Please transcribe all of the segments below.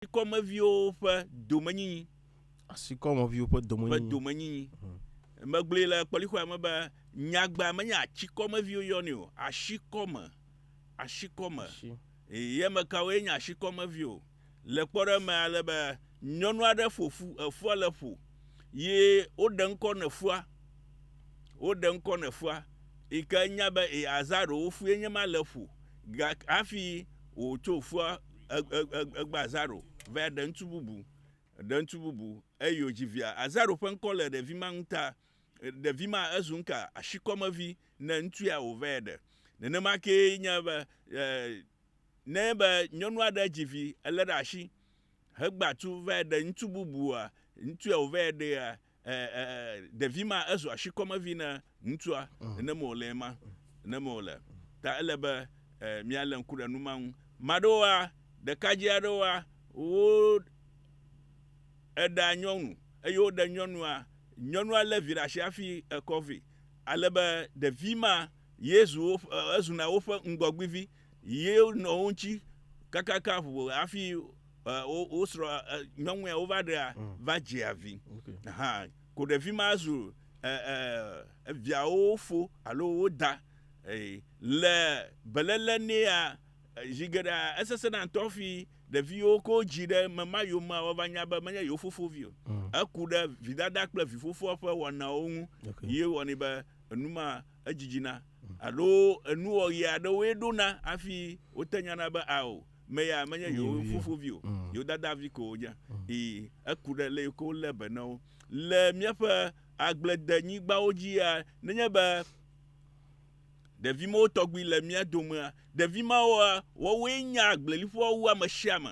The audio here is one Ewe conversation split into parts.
Asikɔmeviwo ƒe domenyinyi. Asikɔmeviwo ƒe domenyinyi. Ƒe domenyinyi. Hmm. Megblɔe le kpɔlixɔa me be nyagba menye atsikɔmeviwo yɔnɛ o, asikɔme, asikɔme. Asi. Ye me kawoe nye asikɔmevi o. Le kpɔɖeme ale be nyɔnu aɖe ƒo ƒu, efua le ƒo, ye woɖe ŋkɔ ne ƒua, woɖe ŋkɔ ne ƒua, yi ke nya be e, azã ɖewo ƒue nye ma le ƒo, hafi wòtso ƒua Egbea Azaro va ɖe ŋutsu bubu, ɖe ŋutsu bubu, eye wòdzi via. Azaro ƒe ŋkɔ le ɖevi ma ŋu ta. Ɖevi ma ezu ŋka ashikɔmevi ne ŋutsu ya wòva ɖe. Nenema kee nye be, ne be nyɔnu aɖe dzi vi, elé ɖe ashi hegba tu va ɖe ŋutsu bubua, ŋutsu ya wòva ɖea, ɖevi ma ezu asikɔmevi na ŋutsua ne me wòle ma ne me wòle ta ele be míalé ŋku ɖe nu ma ŋu maɖewoa ɖekadze aɖewoa wo eɖa nyɔnu eye woɖe nyɔnua nyɔnua lé vi ɖe asi hafi ekɔ vɛ ale be ɖevi ma yezu ezuna woƒe ŋgɔgbivi Ɣiye nɔ wo ŋutsi kakaka ʋu hafi wosrɔ nyɔnu ya wova ɖea va dzea vi hã ko ɖevi ma zu viawo fo alo wo da le beléle nɛa zi geɖea esesena ŋutɔ hafi ɖeviwo ke wodzi ɖe ame ma yomea woava nya be menye yewo fofo vi o eku ɖe vidada kple vifofoa ƒe wɔnawo ŋu ye wɔnɛ be enu ma edzidzina, alo enuwɔɣi aɖewoe ɖona hafi wote nyana be ao, meya menye yewo fofovi o, mm. yewo dadavi ko wonye. Mm. Ii, eku ɖe le yiwo ke wolé be na wo. Le míaƒe agbledenyigbawo dzia, nenye be ɖevi mawo tɔgbi le mía domea, ɖevi mawoa, woawoe nya agbleliƒoa wu ame sia ame.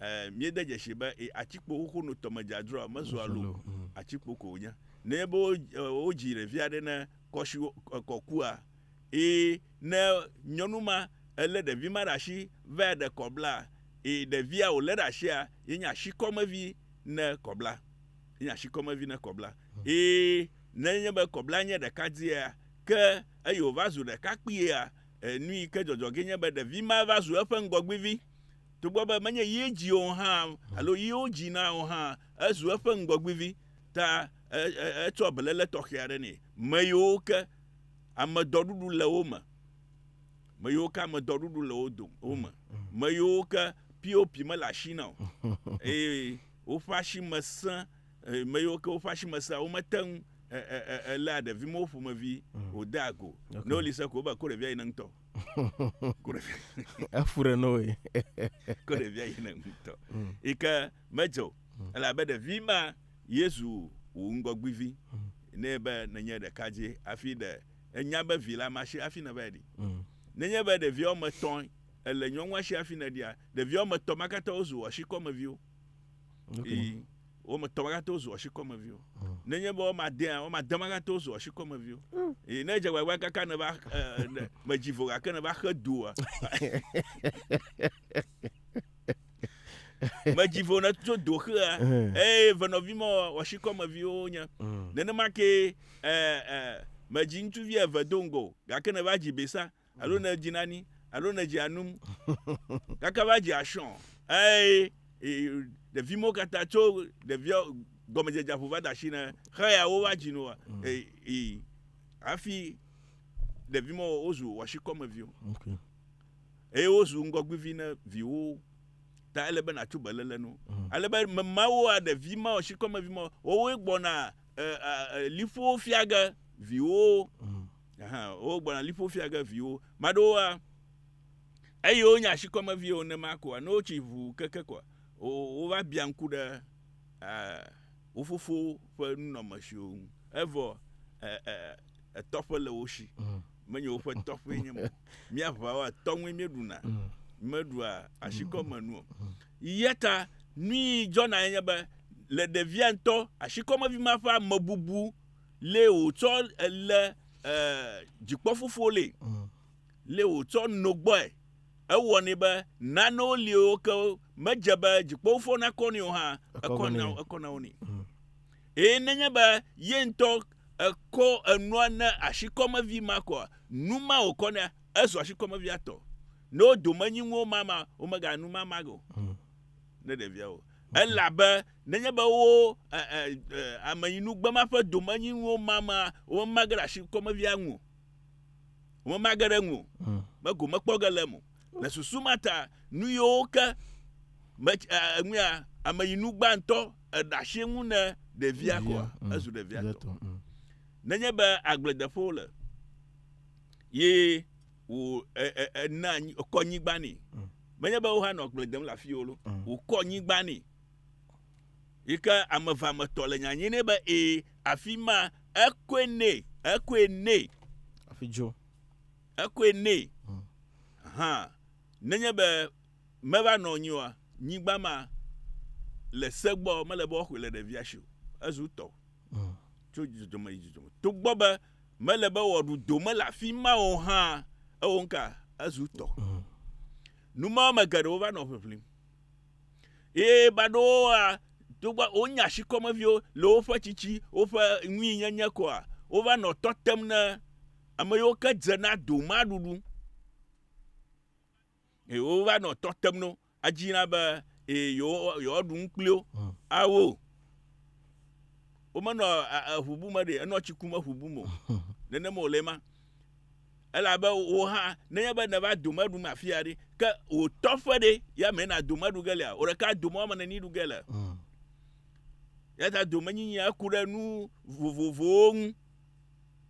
Ɛɛ, míede dzesii be e, atsikpo xoxo no tɔmedzadzroa mezua lo o, atsikpo ko wònye. Nenye be wodzii ɖevi aɖe ne kɔ si kɔ kua, eye ne nyɔnu ma elé ɖevi ma ɖe asi vae ɖe kɔblaa, eye ɖevia wòlé ɖe asia ye nye asikɔmevi ne kɔblaa. Ye nye asikɔmevi ne kɔblaa. Eye ne enye be kɔblaa nye ɖekadziea, ke eye wòva zu ɖekakpuia, e, nu yi ke dzɔdzɔ ge nye be ɖevi ma va zu eƒe ŋgɔgbivi. Togbɔ be menye ye dzii o hã alo ye wodzi na o hã, ezu eƒe ŋgɔgbivi ta etsɔ beléle tɔxɛ aɖe nɛ. Me yiwo ke ame dɔɖuɖu le wo me. Me yiwo ke ame dɔɖuɖu le wo dome wo me. Me yiwo ke POP mele asi na o. Eye woƒe asi me sẽ me yiwo ke woƒe asi me sea womete ŋu eléa ɖevimewo ƒomevi wòdea go. Ne woli se ko wobe ko ɖevia yi ne ŋutɔ. efu ɖe no ye ko ɖevia yina ŋutɔ mm. yi ke medzɔ mm. elabe ɖevi ma yezu wò ŋgɔgbivi mm. ne be nenye ɖeka dzi hafi ɖe enya be vi la masi hafi ne va ɖi nenye be ɖevia woame etɔ̃ ele nyɔnua si hafi ne ɖia ɖevia woame etɔ̃ ma katã wozu wò asikɔmeviwo Okay. Ii, wo me tɔ magate wozu ɔshikɔmeviwo. Mm. Nenye be wɔma dea, wɔma de magate wozu ɔshikɔmeviwo. Mm. Ii, ne dze gbagba kaka ne va, eh, ne, me dzi vo gake ne va xe du wa. medzi vo ne tso do xea eh. eye venɔvi ma wɔshikɔmeviwo nye mm. nenema ke eh, eh, medzi ŋutsuvi eve do ŋgɔ gake ne va dzi besa alo ne edzi nani alo ne edzi anum gake va dzi asɔ eye ɖevi mo katã tso ɖevia gɔmedzedze ƒo va da asi ne xeya wo va dzi no ee hafi ɖevi mo wozu wɔsikɔmeviwo eye wozu ŋgɔgbivi ne viwo ta ele be natso belele no mm. ale be memawo a ɖevi ma wɔsikɔmevi ma wowoe gbɔna liƒowo fia ge viwo mm. Aha, wogbɔna liƒo fia ge viwo. Maɖewoa, eyi wonye asikɔme viwo nema koa, ne wotsi ʋu keke koa, wova bia ŋku ɖe wo fofo ƒe nunɔme siwo ŋu. Evɔ etɔƒe le wo si. Mm. Menye woƒe tɔƒe nye mo. Mía ʋawoa, tɔŋue míeɖuna. Mm. Meɖua asikɔme nu o. Mm. Yeta nui dzɔna enye be le ɖevia ŋutɔ asikɔmevi ma ƒe amebubu le wòtsɔ le dzikpɔfufuwo le mm. le wòtsɔ no gbɔe ewɔnɛ be nanewo liwo ke medze be dzikpɔfufuwo nakɔ nɛ o hã ekɔ na wo ni mm. eye nenye be ye ŋutɔ ekɔ enua ne asikɔmevi ma kɔa nu ma wòkɔ ne ezɔ asikɔmevia tɔ ne wo dome nyi ŋuwo mama womeganu mama o mm. ne ɖeviawo elabe Nenye be wo amenyinugbema ƒe domenyinuwo mama, womemage ɖe asi kɔmevia ŋu o. Womemage ɖe ŋu o. Mm. Be gome kpɔ ge le eme o. Le susu ma ta, nu yiwo ke me eŋuya amenyinu gbãtɔ eɖe asi ŋu ne ɖevia kɔa, mm. ezu ɖevia tɔ. Mm. Nenye be agbledeƒe wole, ye wò ena kɔ nyigba nɛ. Menye be wohanɔ agble dem le afi wolo, wòkɔ nyigba nɛ. Yi ke ame eve ame tɔ le nya nyi ne be ee afi ma ekoe ne ekoe ne. Afi dzo. Ekoe ne. Hmm. Aha. Nenye be meva nɔ anyi oa, nyigba ma le segbɔ mele be woaxɔe le ɖevia si o. Ezu tɔ. Hmm. Tso dzidzɔme yi dzidzɔme. Togbɔ be mele be wɔɖu do mele afi ma o hã ewo nka ezu tɔ. Hmm. Numɔwo me geɖewo va nɔ ʋiʋlim. Eye baɖowoa, togbɔ wonye ashikɔmeviwo le woƒe tsitsi, woƒe ŋuinyenye koa, wova nɔ tɔ tem ne ame yiwo ke dze na doma ɖuɖu. Eye wova nɔ tɔ tem no, adzi na be eye yewo- yewoaɖu nu kpli wo, Mm. awo o. Womenɔ a- a- eŋubu me ɖe, enɔ tsi kum eŋubu me o. Nenema wòle ema. Elabe wò hã, nenye be nèva dome ɖum afia ɖe, ke wò tɔƒe ɖe, ya mee nàdome aɖu ge lea? Wò ɖeka adome woame ene ni ɖu ge le. Mm. Eya ta domenyinyia ku ɖe nu vovovowo ŋu.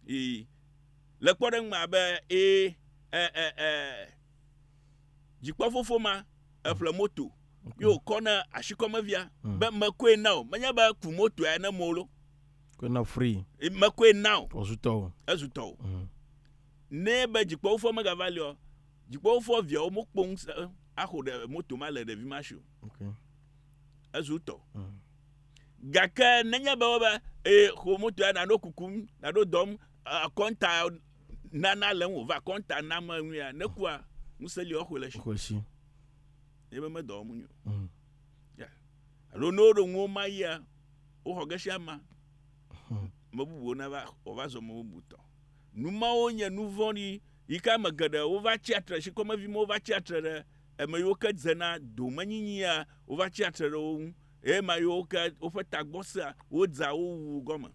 Ii. Le kpɔɖeŋu me abe, ee, e, e, e, dzikpɔfofo ma, eƒle moto, ye wòkɔ na ashikɔmevia, mm. be mekɔe na wò, menye be ku motoa ne mo lo. Koe na free. Mekoe na o. Wòzu tɔwò. Ezu tɔwò. Mm. Ne be dzikpɔwofɔ megava li o, dzikpɔwofɔ viawo mokpɔ ŋusẽ axo ɖe moto ma le ɖevi ma si o. Okay. Ezu tɔ. Mm. Gake nenye be wobe ee xo moto ya naɖo kukum, naɖo dɔm, akɔnta nana le ŋu va akɔnta nam eŋuia, nekua ŋusẽ li woaxo le si. Xo le si. Ebe medɔ wɔm nyo. Mm. alo ne woɖo nuwo ma yia woxɔ ge sia ma hmm. me bubuwo nava wòva zɔ me bubu tɔ nu mawo nye nu vɔ̃ɖi yi ke ame geɖe wova tsi atre si kɔmevi ma wova tsi atre ɖe ame yiwo ke dzena domenyinyia wova tsi atre ɖe wo ŋu eye ma yiwo ke woƒe tagbɔ sea wodza wo wu gɔme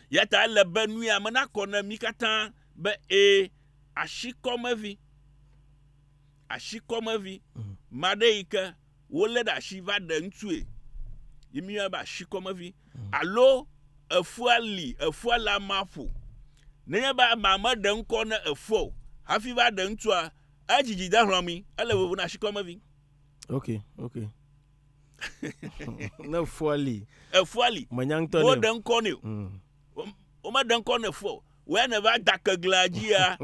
yata ele be nu ya me nakɔ ne mi katã be ee asikɔmevi Ashikɔmevi, maɖe yi ke wolé ɖe ashi va ɖe ŋutsue, yi mi yɔnɛ be ashikɔmevi. Alo efua li, efua le amea ƒo. Nenye be amea me ɖe ŋkɔ ne efua o, hafi va ɖe ŋutsua, edzi dzi de hlɔ̃ mi, ele vovo na ashikɔmevi. Ok, ok. ne efua li. Efua li. Menya ŋutɔ ne. Wo ɖe ŋkɔ ne o. Mm. Womeɖe ŋkɔ ne fɔ o. Wòya ne va da keglea dzi ya.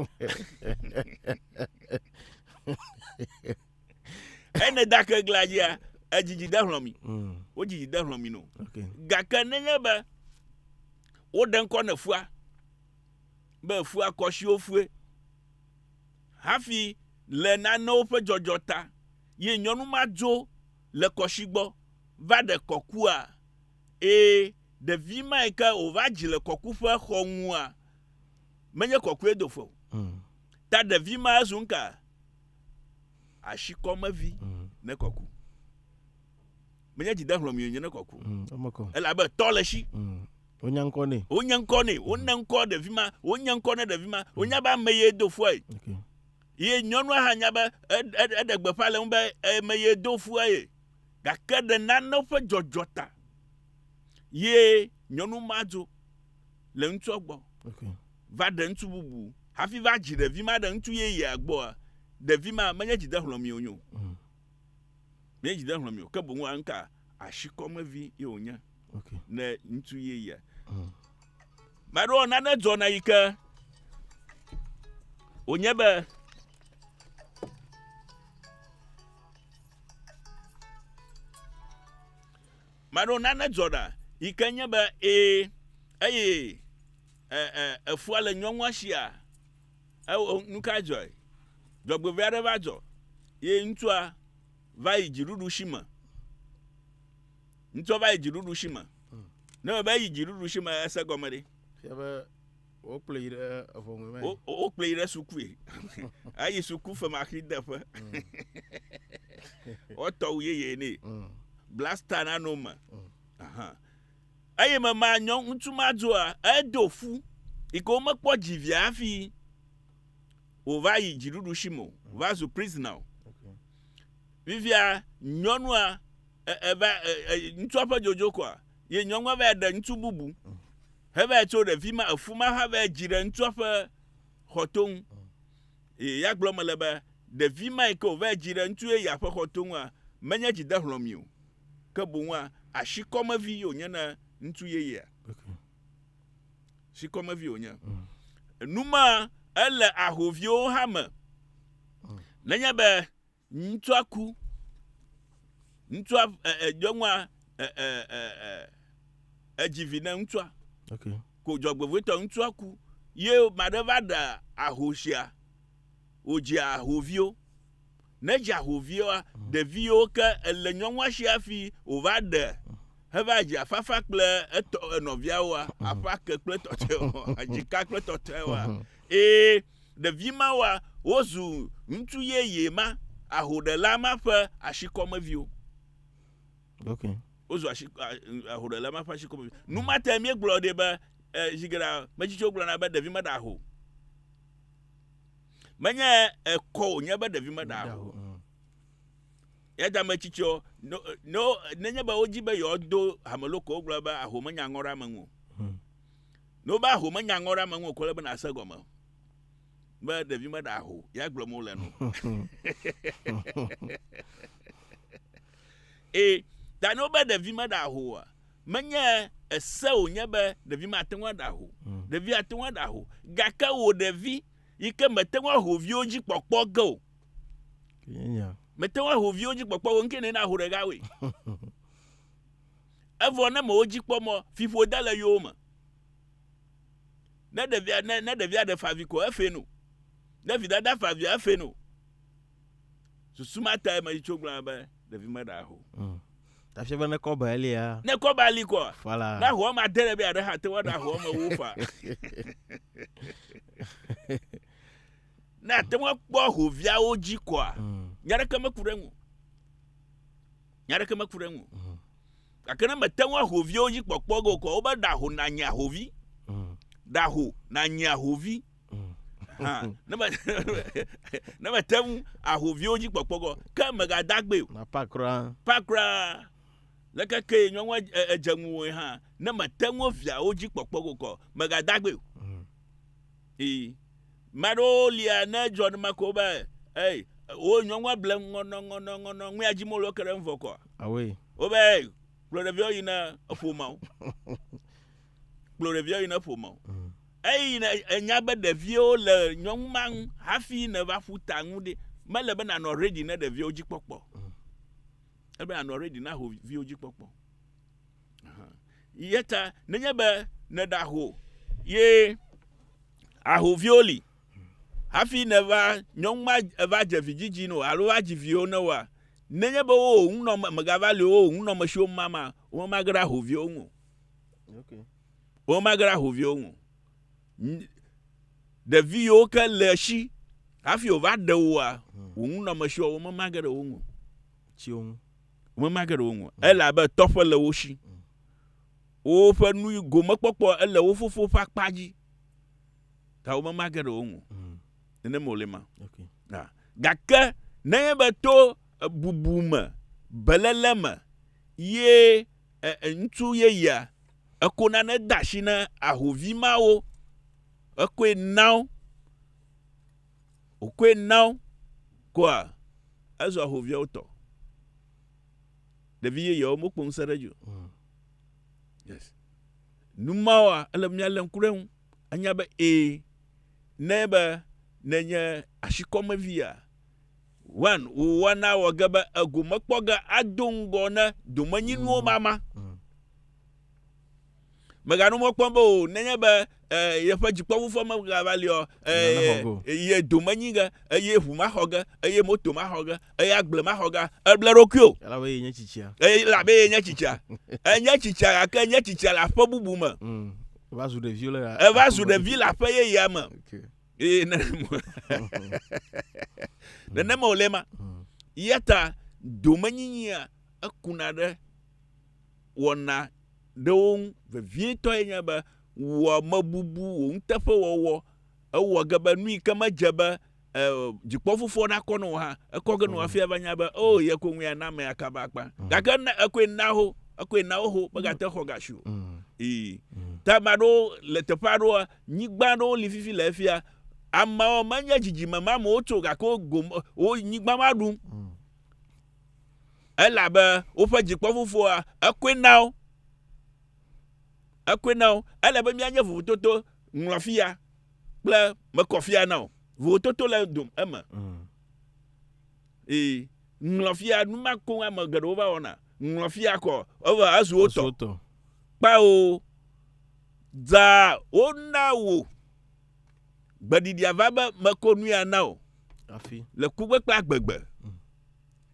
Ene da keglea dzi ya. Edzidzi de hlɔ mi. Mm. Wodzidzi de hlɔ mi no. Gake nenye be woɖe ŋkɔ ne fua be fua kɔsiwo fue hafi le nanewo ƒe dzɔdzɔ ta ye nyɔnu ma dzo le kɔsi gbɔ va ɖe kɔkua Ee, ɖevi mae ke wòva dzi le kɔkuƒe xɔ ŋua, menye kɔkuedoƒe o. Mm. Ta ɖevi ma ezu ŋka? Ashikɔmevi mm. ne kɔku. Menye dzidehlɔ̃mio nye ne kɔku. Mm. Elabe tɔ le shi. Mm. Wonya ŋkɔ nɛ. Wonya ŋkɔ nɛ. Wona mm. ŋkɔ ɖevi ma. Wonya ŋkɔ ne ɖevi ma. Wonya mm. be ame ye do fue. Okay. Ye nyɔnua hã nya be eɖe gbeƒã le ŋu be ame ye do fue ye. gake ɖe nane ƒe dzɔdzɔ ta ye nyɔnu ma dzo le ŋutsua gbɔ va ɖe ŋutsu bubu hafi va dzi ɖevi ma ɖe ŋutsu yeyea gbɔa, ɖevi ma menye dzidehlɔ̃mi wònye o. Mm. Menye dzidehlɔ̃mi o, ke boŋ anka asikɔmevi ye wònye. okay. ne ŋutsu ye ya mm. maɖo nane dzɔna yi ke wònye be maɖo nane dzɔna yi ke nye be ee eye efua le nyɔnua sia nu ka dzɔe dzɔgbevɔe aɖe va dzɔ ye ŋutsua va yi dziɖuɖu si me Ŋutsua va yi dziɖuɖu si me. Hmm. Ne me be yi dziɖuɖu si me ese gɔme ɖe. Fia be wokplɔ yi ɖe eʋɔnue me. Wokplɔ yi ɖe sukui. Eyi suku femaxi deƒe. Hmm. Wotɔ wu yeye nɛ. Hmm. Blasta na no me. Eye me ma nyɔ ŋutsu ma dzoa edo fu. Ike womekpɔ dzivia hafi wòva yi dziɖuɖu si me o. Wòva zu prisoner o. Vivia nyɔnua eva ŋutsua ƒe dzodzo kɔa ye nyɔnua va ɖe ŋutsu bubu heva tso ɖe fi ma efu ma hã va dzi ɖe ŋutsua ƒe xɔto ŋu ye ya gblɔ me le be ɖevi ma yi ke wòva dzi ɖe ŋutsu ye ya ƒe xɔto ŋua menye dzi de hlɔmi o ke boŋua asi kɔmevi ye wònye na ŋutsu yeyea si kɔmevi wònye enuma ele ahoviwo hã me nenye be Ŋutsua ku. Ŋutsua nyɔnua edzi vi ne ŋutsua. Okay. Ko dzɔgbevɔtɔ ŋutsua ku ye maɖe va ɖe ahosia wòdzi ahoviwo. Ne dzi ahoviwoa, ɖeviwo ke ele nyɔnua si hafi wòva ɖe heva dzi afafa kple etɔ enɔviawoa, aƒa ke kple tɔtɔewoa, dzika kple tɔtɔewoa. Eye Ɖevi mawoa, wozu ŋutsu yeye ma, ahoɖela ma ƒe ashikɔmeviwo. Ok. Wozu ashi, ahoɖela ma ƒe ashikɔmeviwo. Nu ma te míegblɔ ɖi be e, zi geɖe metsitsiwo gblɔna be ɖevi meɖa ho. Menye ekɔ wònye be ɖevi meɖa ho. Mm. Ya ta metsitsiwo, no, no, nenye be wodzi be yewoado hameloko, wogblɔ be aho menya ŋɔ ɖe ame ŋu o. Mm. Ne wobe aho menya ŋɔ ɖe ame ŋu o, ke wole be nàse gɔme be ɖevi meɖe aho. Ya gblɔm wole no. Ee, ta ne wobe ɖevi meɖe aho oa, menye ese wònye be ɖevi mate ŋu aɖe aho. Hmm. Ɖevi ate ŋu aɖe aho. Gake wò ɖevi yi ke mete ŋu aho viwo dzi kpɔkpɔ ge o. Mete ŋu aho viwo dzi kpɔkpɔ o, ŋkee ne naho ɖeka woe. Evɔ ne mèwo dzi kpɔ mɔ fiƒo de le yowo me. Ne ɖevia ne, ne ɖevia ɖe favi ko efee no. Ne vidada favia efee no. Susu ma tae me tso gblɔ be ɖevi me ɖa ho. Mm. Tafia be ne kɔba elia. Ne kɔba li kɔ. Fala. Na ho ma de be aɖe ha te wa ɖa ho me wo fa. Na te wa kpɔ ho viawo dzi kɔa. Mm. Nyaɖeke me ku ɖe ŋu. Nya aɖeke meku ɖe eŋu. Mm. Gake ne mete ŋu ahoviwo dzi kpɔkpɔ ge o kɔ, wobe ɖaho nanye ahovi. Mm. Ɖaho nanye ahovi. Mm. ne mete ŋu ahoviwo dzi kpɔkpɔ ge o, ke megadagbe o. Na pa kura. Pa kura. Leke ke nyɔnua edze ŋuwòe hã, ne mete ŋu viawo dzi kpɔkpɔ ge o kɔ, megadagbe o. Mm. Ĩ, ma ɖewo lia ne edzɔ ne ma ko be, ɛ, wo nyɔ ŋua ble ŋɔnɔ ŋɔnɔ ŋɔnɔ ŋua dzi molo ke ɖe ŋvɔ kɔ. Awe. Wo be, ɛ, kplɔ ɖeviawo yi ne eƒo ma wo. kplɔ ɖeviawo yi ne eƒo ma wo. Mm. Eyi ne enya be ɖeviawo le nyɔnu ma ŋu hafi ne va ƒu ta ŋu ɖe, me le be na nɔ ready ne ɖeviawo dzi kpɔkpɔ. Mm. Ele be na nɔ ready na ho viwo dzi kpɔkpɔ. Yeta nenye be nèɖe aho ye ahoviwo li hafi nèva nyɔnu ma eva dze vidzidzi no alo va dzi viwo ne woa, nenye be wo ŋu nɔ megava li wo ŋu nɔ mesiwo ma ma, wo ma ge ɖe ahoviwo ŋu. Okay. Wo ma ge ɖe ahoviwo ŋu. Ɖevi yiwo ke le esi hafi wòva ɖe woa, wò ŋu nɔ mesiwo wo ma ge ɖe wo ŋu. Tsiwo ŋu. Womemage ɖe wo ŋu. Elabe tɔƒe le wo shi. Woƒe nu gomekpɔkpɔ ele wo fofo ƒe akpa dzi. Ta womemage ɖe wo ŋu. Nenem wòle ma. Gake nenye be to bubu me, beléle me, ye ŋutsu yeyea eko nane de asi na ahovi mawo, ekoe na wo, Wòkɔe na wo koa, ezu ahoviawo tɔ. Ɖevi yeyeawo mekpɔ ŋusẽ ɖe edzi o. Mm. Yes. Nu mawoa, ele be míalé ŋku ɖe eŋu. Anya be ee, ne be nenye asikɔmevia, one, wò wɔna wɔ ge be egomekpɔ ge ado ŋgɔ ne domenyinuwo mm. mama. Mm. Mèganu mɔ kpɔm be o, nenye be e, yeƒe dzikpɔʋu ƒe megava li ɔ, e, ye do menyi ge, eye ʋu maxɔ ge, eye moto maxɔ ge, eye agble maxɔ ge, eble ɖokui o. Elabe ye nye tsitsia. Elabe ye nye tsitsia. Enye tsitsia gake enye tsitsia le aƒe bubu me. Mm. Eva zu ɖevi le. Eva zu ɖevi le aƒe yeyea me. Okay. Eye nenema wòle ma. Mm. Yata domenyinyia ekuna ɖe wɔna ɖe wo ŋu vevietɔe nye be wò amebubu, wò nuteƒewɔwɔ, ewɔ ge be nu yi ke medze be e, dzikpɔfofoɔ nakɔ ne wò hã, ekɔ ge ne wò hafi ava nya be, o, oh, ye koe ŋue ana amea kaba akpa. Mm. Gake ne ekoe na ho, ekoe na woho, megate xɔ gasi o. Mm. Ii. Mm. Ta ame aɖewo le teƒe aɖewo, nyigba aɖewo li fifi le efia, amewo menye dzidzime ma amewo tso, gake wo gome, wo nyigba ma ɖum. Mm. Elabe woƒe dzikpɔ fofoa, ekɔe na wo. Ekɔe na wo. Ele be míanye vovototo ŋlɔ fia kple mekɔ fia na o. Vovototo le dom eme. Mm. Ee, ŋlɔ fia nu ma koŋ ame geɖewo va wɔna. Ŋlɔ fia kɔ eva ezu wo tɔ. Kpao. Dza wona wò. Gbeɖiɖia va be meko nu ya na wò. Hafi. Le kukpekpe agbegbe. Mm.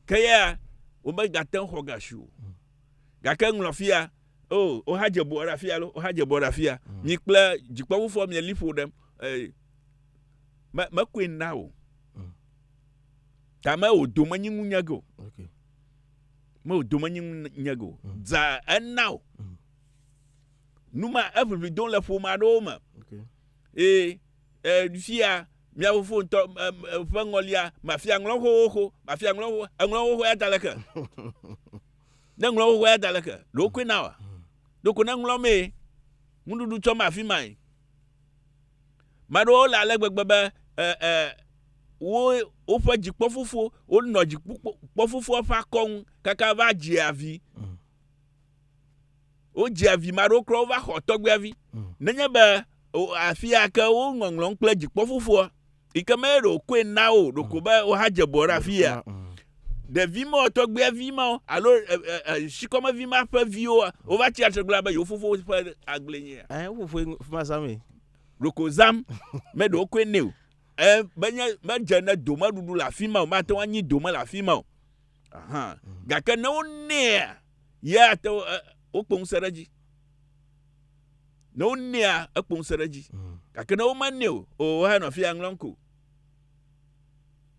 Ke ya womegate ŋu xɔ ga si o. Mm. Gake ŋlɔ fia, o, oh, wohadze bɔ ɖe afia lo, wohadze bɔ ɖe afia. Mm. Mi kple dzikpɔƒufoɔ mieli ƒo ɖem. Eh, me, mekoe na wò. Mm. Ta me wò dome nyi ŋu nyege o. Okay. Me wò dome nyi ŋu nyege o. Mm. Dza ena o. Mm. nu ma eʋiʋli dom le ƒome aɖewo me eye fia mia fofo ŋutɔ ƒe ŋɔlia mafia ŋlɔ xoxo mafia ŋlɔ xoxo eŋlɔ xoxo ya da leke ne ŋlɔ xoxo ya da leke ɖe wokɔe na wa ɖoko ne ŋlɔ mee nuɖuɖu tsɔ ma afi ma yi maɖewo le ale gbegbe be ɛ ɛ wo woƒe dzikpɔfofo wonɔ dzikpɔfofo ƒe akɔnu kaka va dzia vi. Mm. wodzia vi ma ɖewo kura wova xɔ tɔgbuia vi mm. nenye be afi ya ke wo ŋɔŋlɔm kple dzikpɔ fofoa yi ke me ɖo koe na wo ɖo ko be wo ha dze bɔ ɖe afi ya ɖevi ma tɔgbuia vi ma alo sikɔme vi ma ƒe viwo wova tsi atsitre gblɔ be yewo fofo ƒe agble nye ya. ɛɛ wo fofo fi ma zam ye. ɖoko zam mɛ ɖewo koe ne o ɛɛ menye medze ne domeɖuɖu le afi ma o mate ŋu anyi dome le afi ma o. gake ne wonɛa ya ate wokpɔ ŋusẽ ɖe edzi ne wonɛa ekpɔ ŋusẽ ɖe edzi mm. gake ne womanɛ o o woanɔ fi aŋlɔ ŋko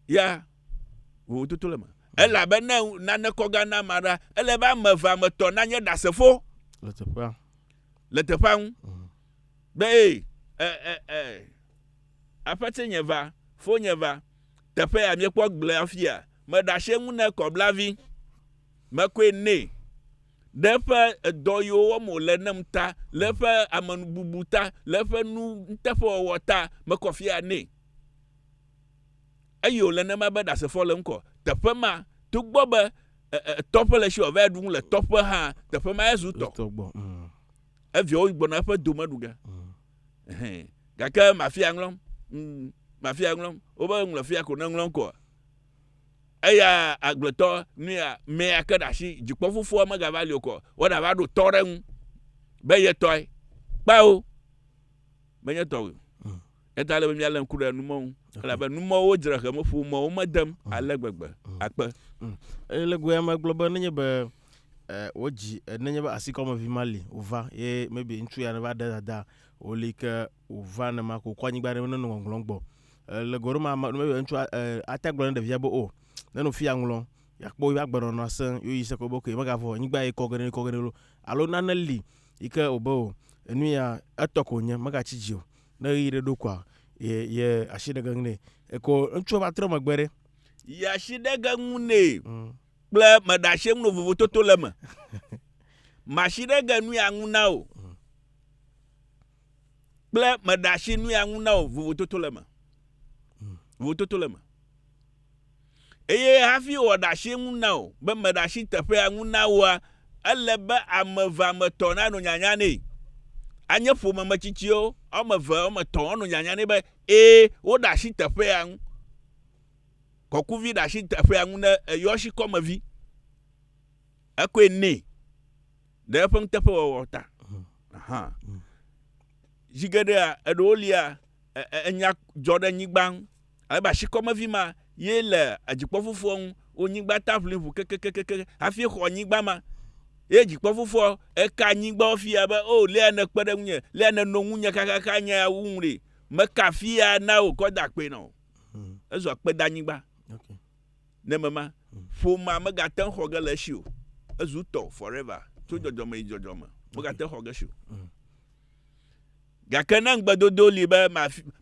ya vovototo le me elabena nane kɔ gã na ma ɖa ele be ame eve ame tɔ nanye ɖasefo le teƒea le teƒea ŋu mm. be ee ee ee aƒete nye va fo nye va Teƒe ya miekpɔ gblẽ afia, meɖe asi eŋu ne kɔblavi, mekɔe nɛ ɖe eƒe edɔ yiwo wɔm wòle nem ta, le eƒe amenububu ta, le eƒe nu nuteƒewɔwɔ ta, mekɔ afia nɛ. Eye wòle nema be Ɖasefo le ŋkɔ. Teƒe ma, togbɔ be tɔƒe le si wòava ɖu nu le tɔƒe hã, teƒe ma ezu tɔ. Eviawo gbɔna eƒe dome ɖu ge. Gake mafia ŋlɔm. Mm, mafia ŋlɔm. Wobe ŋlɔ fia ko ne ŋlɔm koa. Eya agblɔtɔ nuya mea ke ɖe asi dzikpɔ fofoa megava li o kɔ. Woɖa va ɖo tɔ ɖe ŋu be ye tɔe. Kpao. Menye tɔ o. Hmm. Eta le be mía le ŋku ɖe numɔ ŋu. Elabe numɔwo dzre he meƒo mɔwo medem hmm. ale gbegbe. Hmm. Akpe. Ele goya megblɔ be nenye be eh, wodzi eh, nenye be asikɔmevi ma li wòva ye maybe ŋutsu ya neva ɖe dada wòli ke wòva ne ma ko kɔ anyigba ne neno ŋɔŋlɔ gbɔ eh, le goro ma maybe ŋutsu eh, ate gblɔ ne ɖevia be o oh, neno fi ya ŋlɔ yakpɔ yi agbenɔnɔ asẽ yo yi se ko be ok megavɔ anyigba yi kɔ gene kɔ gene lo alo nane li yi ke wòbe o oh, enu ya etɔ ko nye megatsi dzi o ne ɣeyiɣi ɖe ɖo koa ye ye asi ɖe ge ŋu nɛ eko ŋutsua va trɔ megbe ɖe ye asi ɖe ge ŋu nɛ mm. kple meɖe asi ŋu no vovototo le eme. Masi ɖe ge nui aŋu na o kple meɖe asi nui aŋu na o vovototo le eme. Vovototo le eme. Eye hafi wɔ ɖe asi ŋu na o be meɖe asi teƒe aŋu na woa, ele be ame eve ame etɔ̃ nanɔ nyanya nɛ. Anye ƒome me tsitsiwo wɔme eve wɔme etɔ̃ wɔnɔ nyanya nɛ be ee woɖe asi teƒe aŋu. kɔkuvi ɖe asi teƒea ŋu ne eyɔshi kɔme vi ekɔe nɛ ɖe eƒe nuteƒe wɔwɔ ta. Aha. Zi geɖea eɖewo lia enya dzɔ ɖe nyigba ŋu. Alebe asi kɔme vi ma ye le adzikpɔ fufua ŋu. Wo nyigba ta ʋli ʋu kekekekeke hafi xɔ nyigba ma. Ye dzikpɔ fufua eka nyigba wo fia be o oh, lia ne kpe ɖe ŋunye, lia ne no ŋunye kakaka nya ya wu ŋu ɖe. Meka fia na wò kɔ da kpe na wò. Hmm. Ezua kpedanyigba. Okay. Ne mema hmm. ƒomea megate ŋu xɔ ge le esi o. Ezu tɔ forever tso hmm. dzɔdzɔme yi dzɔdzɔme. Megate ŋu xɔ ge esi o. Gake ne ŋugbedodo li be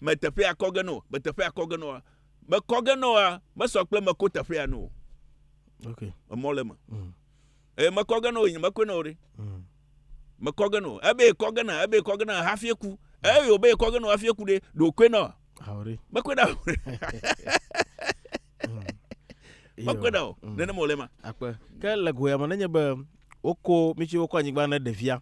meteƒe akɔ ge no, meteƒe akɔ ge no, mekɔ ge noa mesɔ kple meko teƒea no. Okay. Emɔ le me. eye mekɔ ge na o nyemekɔe na o ɖe mm. mekɔ ge na o ebe ekɔ ge na ebe ekɔ ge na hafi eku eye obe ekɔ ge na hafi eku ɖe ɖe okɔe na o mekɔe na o mm. mekɔe na o mm. nenema wòle ma. akpe ke le goya me nenye be woko mi tsi wokɔ anyigba ne ɖevia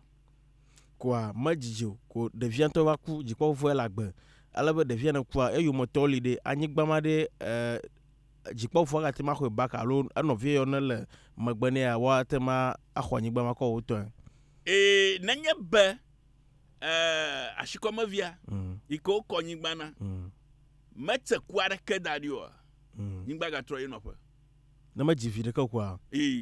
koa medzidzi o ko ɖevia ŋutɔ va ku dzikpɔfofoe le agbe ale be ɖevia ne kua eyometɔ li ɖe anyigba ma ɖe ɛɛ. Eh, dzikpɔfoɔ agate ŋu axɔe back alo enɔvia yɔ nele megbe nɛa, woate ŋu axɔ anyigba ma kɔ wotɔe. Eye nenye be ashikɔmevia yi ke wokɔ nyigba na metse ku aɖeke da ɖi oa, nyigba gatrɔ ye nɔƒe. Ne medzi vi ɖeke o kua,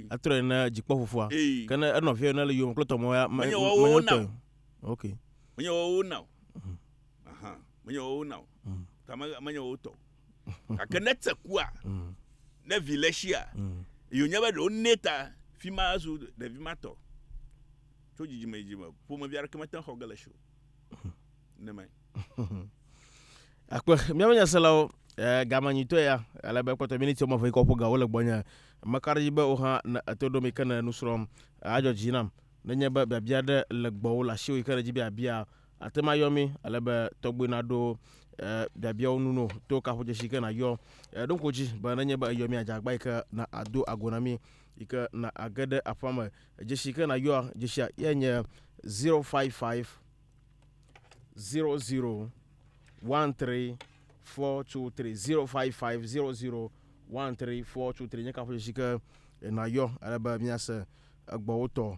atrɔe na dzikpɔfofoa. Ke ne enɔvia yɔ nele yome kple tɔme ya, menye wotɔe o. Ok. Menye woawo na o. Aha, menye woawo na o. Ta menye woawo tɔ o. gake ne te kua mm. ne vi le sia mm. yonye be ɖewo nɛ ta fi ma zu ɖevi ma tɔ tso dzidzime dzidzime ƒomevi aɖeke mete xɔ ge le si o mm. ne mɛ akpe míaƒe nyaselawo eh, gamanyitɔe ya ale be kpɔtɔ miniti wɔme eve kɔ ƒo ga wole gbɔnye meka ɖe dzi be wo hã ne eto ɖo mi ke ne nusrɔ̃m adzɔ dzi nam nenye be biabia ɖe le gbɔwò le asiwò yi ke ɖe dzi biabia Ate ŋu ayɔ mí ale be tɔgbe naɖo biabiawo nu no to kaƒodzesi ke nayɔ. Ɖo ŋku dzi be nenye be eyɔ mí adze agba yi ke na ado ago na mí yi ke na age ɖe aƒea me. Dzesi ke nayɔa, dzesia ye nye 055 00 13 423 055 00 13 423 nye kaƒodzesi ke nayɔ ale be míase egbɔwotɔ.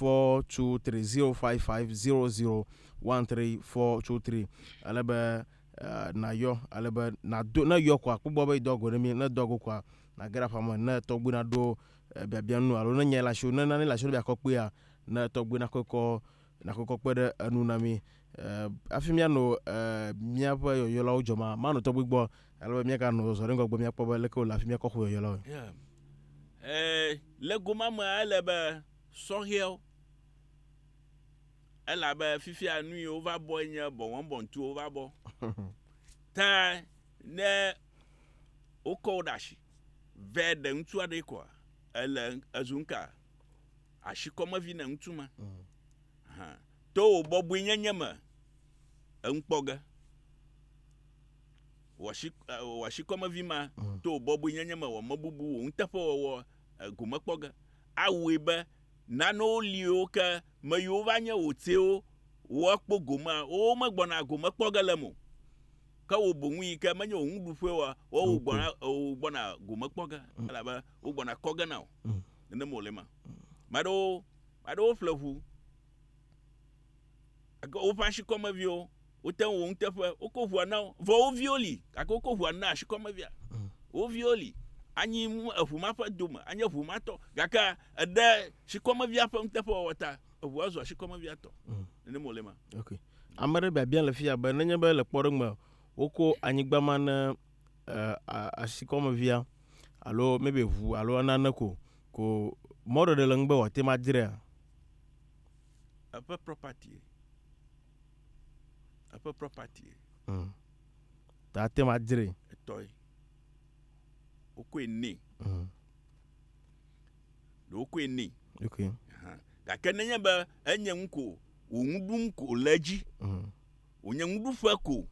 423050013423 ale be nayɔ ale be nado ne yɔ koa kpɔgbɔ be idɔ go ɖe mi ne dɔ go koa nage ɖe aƒame ne tɔgbi naɖo biabia nu alo ne nya le asi ne nane le asi ne biakɔ kpea ne tɔgbi nakɔkɔ Nakpɔkpɔ kpe ɖe enu na mí hafi míanɔ míaƒe yɔyɔlawo dzɔm amanɔtɔgbi gbɔ ale be míaganɔ zɔzɔ ɖe ŋgɔgbe míakpɔ be leke wòle hafi míakɔ xɔ yɔyɔlawo. Le go ma mea, ele be sɔhɛwo, elabe fifia nu yiwo va bɔe nye bɔwɔbɔntuwo va bɔ. Ta ne wokɔ wo ɖe asi vɛ ɖe ŋutsu aɖee koa, ele ezu nuka? Àsi kɔmevi ne ŋutsu ma. Hã. To wò bɔbɔenyenye me eŋu kpɔ ge. Wòasi wòasi kɔmevi ma to wò bɔbɔenyenye me wɔ mebubu wò nuteƒewɔwɔ gome kpɔ ge. Awɔe be nanewo liwo ke me yiwo va nye wò tsewo woakpɔ gomea, womegbɔna gome kpɔ ge le eme o. Ke wò boŋ yi ke menye wò nuɖuƒewoa, woawo gbɔna wò gbɔna gome kpɔ ge elabe Wogbɔna kɔ ge na wò. Mm. Nenem wòle ma. Ame aɖewo, ame aɖewo ƒle ŋu. Eke woƒe asikɔmeviwo, wote ŋu wò nuteƒe, woko ŋua na wo. Vɔ wo viwo li, gake woko ŋua na asikɔmevia. Mm. Wo viwo li. Anyi eŋu ma ƒe dome, anyi eŋu ma tɔ. Gake eɖe sikɔmevia ƒe nuteƒewɔwɔ ta, eŋua zu asikɔmevia tɔ. Mm. Nenem wòle ma. Okay. Ame aɖe biabia le fia be nenye be le kpɔɖeŋu me woko anyigba ma ne asikɔmevia alo maybe ʋu alo nane ko ko mɔɖeɖe le ŋugbe wòate ŋu adzrea? Eƒe property-e. Eƒe property-e. Mm. Ta ate ŋu adzree. Etɔe. Wokɔe nɛ. Mm. Ɖe wokɔe nɛ. Ok. Gake nenye be enye ŋu ko wò ŋu ɖum ko le edzi. Mm. Wònye nuɖuƒe ko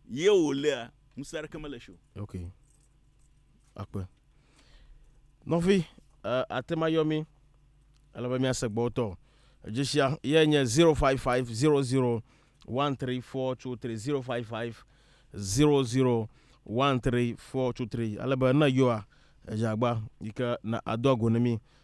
ye wòlea, ŋusẽ aɖeke mele esi o. Ok. Akpe. Nɔvi, uh, ate ma yɔ mi. Ele be mia se gbɔtɔ. Edzeshia ye nye 055001343 055001343. Ale be ne yɔa, edzagba yike na ado ago ne mi.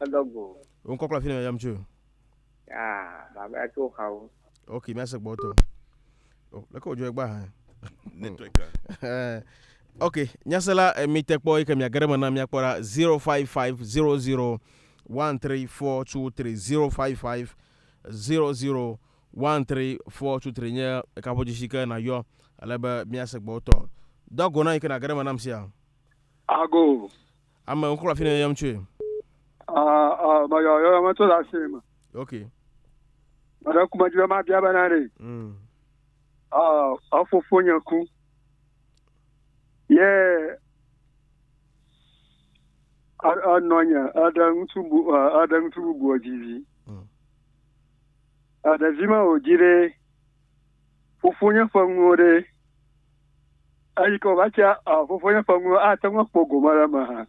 Eɖɔ go. Wò ŋkɔ kple afi nɔ yam tso. Yaa, baba ya tso xawo. Ok, mi ase gbɔ tɔ. O, leke wòdzɔ egba hã. Network a. Eh, Ok, nyasela eh, mi te kpɔ yi ke miage ɖe me na miakpɔ ɖa 055 00 13423 055 00 13423 nye kaƒodzesi ke nayɔ ale be miase gbɔ tɔ. Do ago na yi ke nage ɖe me nam sia. Ago. Ame wokɔ afi ne yɔm tsoe. Ah, ah, meyɔ yɔyɔ me tso le asi me. Ok. Meɖe ku medzi be mabia bena ɖe. Mm. Ah, efofo nye ku. Ye enɔ nye eɖe ŋutsu bu eɖe ŋutsu bubu dzi vi. Mm. Eɖevi me wòdzi ɖe. Fofo nye ƒe nuwo ɖe. Eyi ke wòva tsia fofonye ƒe nuwo ate ŋu akpɔ gome ɖe eme hã.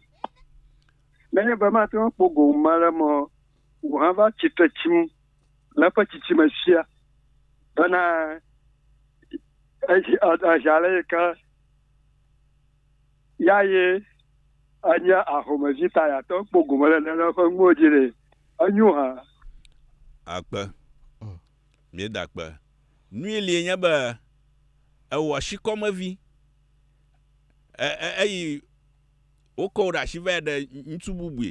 Nenye be mate ŋu akpɔ gome ɖe eme o, wòhã va tsitre tsim le eƒe tsitsime fia bena edzi edzi ale yi ke ya ye enye ahomevi ta yeate ŋu akpɔ gome ɖe eƒe nuwo dzi ɖe. Enyo hã. Akpe. Míeda akpe. Nui lie nye be ewɔ shikɔme vi e, e, eyi wokɔ wò ɖe ashi vae ɖe ŋutsu bubui.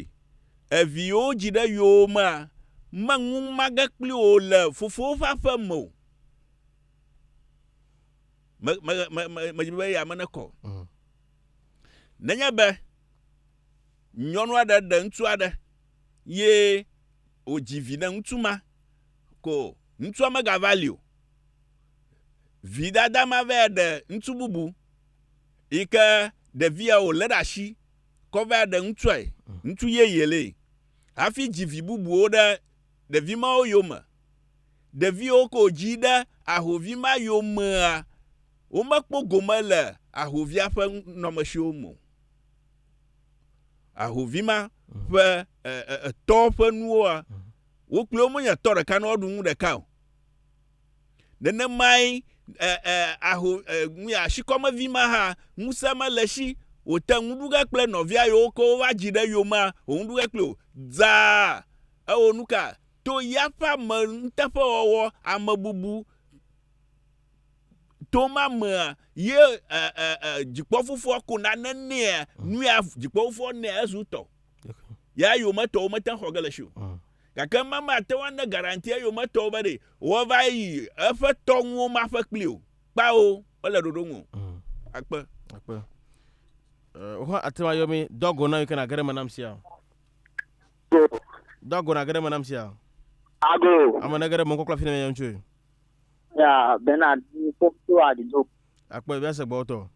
Evi yewo dzi ɖe yowo mea, meŋu mage kpli wò le fofowo ƒe aƒe me o. Me, me, me, me, me dzi be eya me nekɔ. Mm. Nenye be nyɔnu aɖe ɖe ŋutsu aɖe ye wòdzi viɖeŋutsu ma ko. Ŋutsua megava li o. Vidada ma va ɖe ŋutsu bubu yi ke ɖevia wòlé ɖe asi kɔ va ɖe ŋutsuae, ŋutsu yeye lee hafi dzi vi bubuwo ɖe ɖevi mawo yome. Ɖeviwo ke wòdzi ɖe ahovi ma yomea, womekpɔ gome le ahovia ƒe nɔmesiwo me o. ahovi ma ƒe etɔ ƒe nuwoa mhm. wo kple wo menye tɔ ɖeka ne woaɖu nu ɖeka o nenemae aho asikɔmevi ma hã ŋusẽ mele si wòte ŋu ɖu ge kple nɔvia yewo ke wova dzi ɖe yomea wòŋu ɖu ge kple o dzaa ewɔ nu ka to ya ƒe ame nuteƒewɔwɔ amebubu to ma mea ye eh, eh, eh, dzikpɔfofoa ko nane nɛa nuya dzikpɔfofoa nɛ ezu tɔ ya yometɔwo mete xɔ ge le si o mm. gake ma mate ŋu ane garanti eyometɔwo be ɖe wɔva yi eƒe tɔnuwo ma ƒe kpli o kpawo wole ɖoɖo ŋu mm. akpe akpe wohã ate ŋu ayɔ mi dɔgo na yi ke nage ɖe me nam sia dɔgo nage ɖe me nam sia ago ame nage ɖe me kɔkla fi ne meyɔ ŋutsoe Ya Bernard Fokuto Adido. Akpɔ ebi ase gbɔtɔ.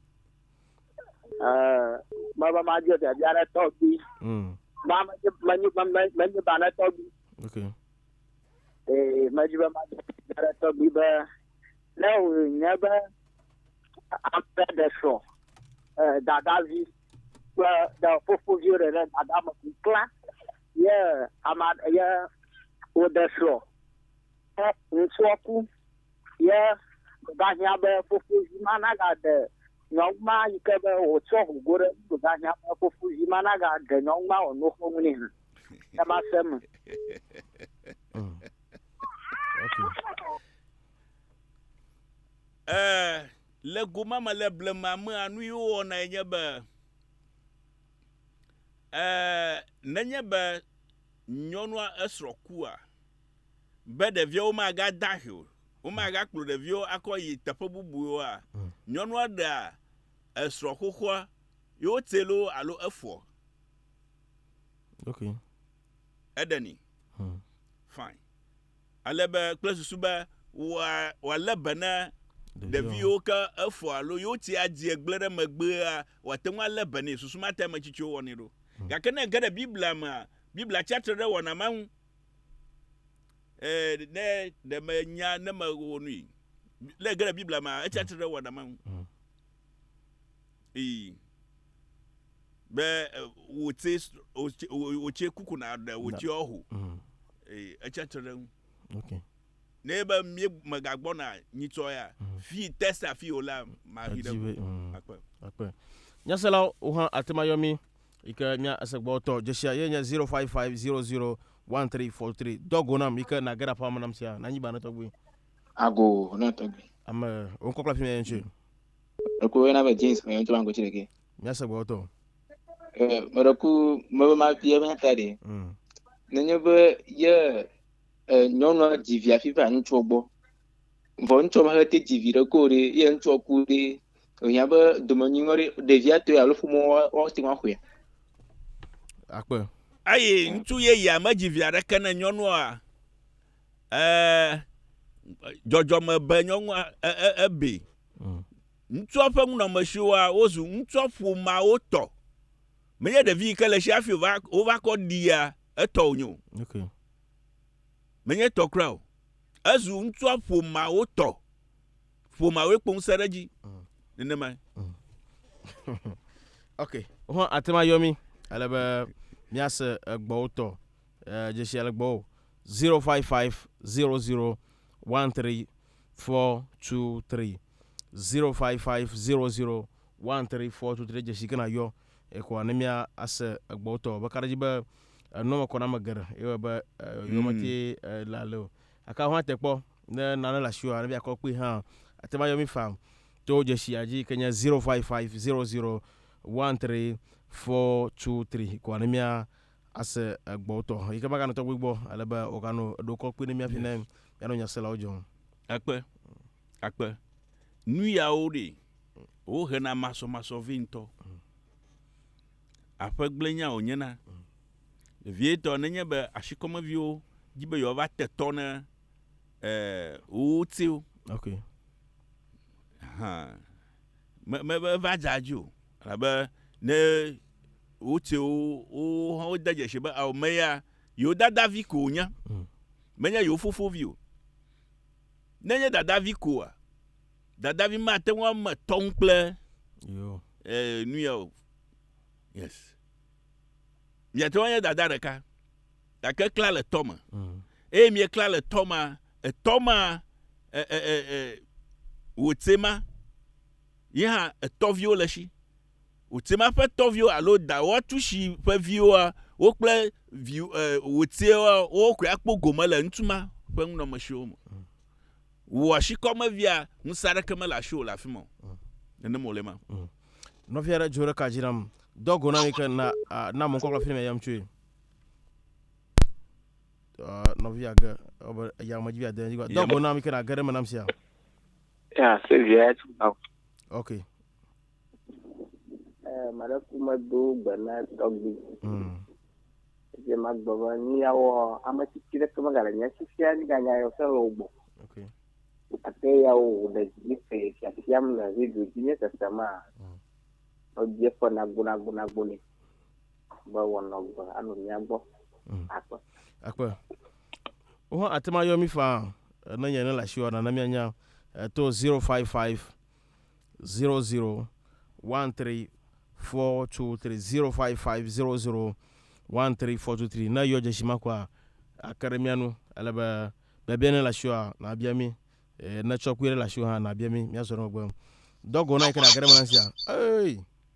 Ɛɛ mɛba ma di ɔtɛ bia ne tɔgbi. Mm. Ma me nye me nye me me nye ba ne tɔgbi. Okay. Ee me di be ma di bia ne tɔgbi be ne o nye be ampe de sɔ. Ɛɛ dadavi kple de fofovi ɖe ne dada me kukla. Ye ama ye o de sɔ. Ke ŋutsua ku ye ɖahiã be fofovi ma nagaɖe nyɔnu ma yi ke be wòtsɔ ho go ɖe eŋu ɖahiã be fofovi ma nagaɖe nyɔnu ma wòano xomu nɛ hã. Ke ma se me. Mm. Okay. Eh, le goma me le blema mea nu yi wowɔna ye nye be eh, nenye be nyɔnua esrɔ̃ kua be ɖeviawo magade ahi o, womagakplɔ ɖeviwo akɔ yi teƒe bubuwo oa? Hmm. Nyɔnua ɖea esrɔ̃ xoxoa ye wotse loo alo efɔ? Ok. Eɖeni. Hmm. Fine. Ale be kple susu be wòalé be ne ɖeviwo ke efɔ alo ye wotse adzi egblẽ ɖe megbea, wòate ŋu alé be nɛ. Susu ma ta ame tsitsiwo wɔnɛ ɖo. Hmm. Gake ne ege ɖe Biblia mea, Biblia tsia tre ɖe wɔna ma ŋu. eh, ne ɖe menya ne mewɔ nui le ge le biblia mea etsi atsitre ɖe wɔna ma ŋu mm. ii be eh, wòtse wòtse kuku na ɖe wòtse ɔho mm. ii etsi atsitre ɖe ŋu ne be mi megagbɔna nyitsɔ ya mm. fi testa fi o la mahi ɖe akpe akpe nyaselawo hã atemayɔ mi yi ke nye esegbɔtɔ. Dzeshia ye nye 0550013443. Dɔ go nam yi ke nage ɖe aƒea me nam sia. Nanyi ba ne tɔgbi. Ago na tɔgbi. Ame wonkɔ kple afi me ŋutsu. Eku yena be James me ŋutsu bango tsi ɖeke. Mia segbɔtɔ. Eh, me ɖe ku me be ma bia be ta ɖe. Mm. Nenye be ye eh, nyɔnua dzi via fi va ŋutsua gbɔ. Vɔ ŋutsua ma he te dzi vi ɖe ko ɖe ye ŋutsua ku ɖe. Ehiã be domenyinɔ ɖe ɖevia tɔe alo ƒomɔ woate ŋu axɔe. Akpe. Eye ŋutsu yeyea medzi vi aɖeke ne nyɔnua dzɔdzɔme be nyɔnua ebe. Mm. Ŋutsua ƒe nunɔmesiwoa wozu ŋutsua ƒomeawo tɔ. Menye ɖevi yi ke le si hafi wova wova kɔ ɖia etɔ wònye o. Okay. Menye tɔ kura o. Ezu ŋutsua ƒomeawo tɔ. ƒomeawoe kpo ŋusẽ ɖe edzi mm. nenemae mm. ok ho ate ŋu ayɔ mi ale be míase egbɔwo tɔ eh, dzesi ale gbɔwo 055 00 13 423 055 00 13 423 dzesi kena yɔ ekɔa ne mía ase egbɔwo tɔ be kaɖedzi be enɔme kɔname geɖe eye be eh, yɔmeti mm. eh, la le o Gake ahɔ̃a te kpɔ ne nane le asiwòa, ne míakɔ kpui hã, ate ŋu ayɔ mí faa to dzesi ya dzi yike nye zero five five zero zero one three four two three kɔa ne mía ase egbɔ wotɔ yike maganɔ tɔgbi gbɔ ale be wòganɔ ɖo kɔ kpui ne mía fi ne mía nɔ nya selawo dzɔm. Akpe, akpe. Nuyawo ɖee, wohena masɔmasɔ vɛ ŋutɔ. Aƒe gblẽ nya wònye na vevietɔ nenye be ashikɔmeviwo di be yewoava te tɔ ne wowo tsiwo. Ok. Hã. Me, me, meva dze adzi o. Elabe ne wotse wo, wo hã wode dzesi be ao me ya yewo dadavi ko wònye. Mm. Menye yewo fofovi o. Nenye dadavi koa, Dadavi mate ŋu ame tɔ ŋu kple eh, nu ya o. Yes. Miate ŋu anye dada ɖeka. Gake kla le tɔ me. Mm. Eye miekla le tɔ ma, etɔ ma, e, e, e, e, wòtse ma, ye hã etɔviwo le si. Wòtse ma ƒe tɔviwo alo dawoa tu si ƒe viwoa, wo kple vi, e, wòtsewa, wo koe akpɔ gome le ŋutsu ma ƒe nunɔmesiwo me. Wò ashikɔmevia, ŋusẽ aɖeke mele asiwò le afi ma o. Mm. Nenem wòle ema. Mm. Nɔvi aɖe dzo ɖeka dzi nam. Dɔ go na mi ke na na mɔ kɔkɔ fi ne yam tsoe. Nɔvia ge ebe ya me dzi via de dzi. Dɔ go na mi ke na ge ɖe me nam sia. Ya, se via ya tsi Okay. Eh, mara kuma do bana tɔgbi. Mm. Je ma gbɔba ni ya wɔ ame tsitsi ɖe kama gale nya tsitsia ni ganya yɔ sɛ lɔ gbɔ. Okay. Ate ya wo le dzi fe fiafiam le video dzi nye sese ma. Mm. Ɔdze fe nago nago nago ni. Be wɔnɔ gbe anu nya gbɔ. Mm. Akpe. Akpe. Wo hã ate ma yɔ mi fa ne nye ne la shi wana na mi anya eh, to 055 zero zero one three four two three zero five five zero zero one three four two three ne yɔ dzesi ma kɔa ake ɖe mía nu ele be biabia ne le asiwòa nàbia mí ne tsɔkui ɖe le asiwò hã nàbia mí míazɔ ɖe megbe dɔgo na yi ke ɖe age ɖe me na sia ee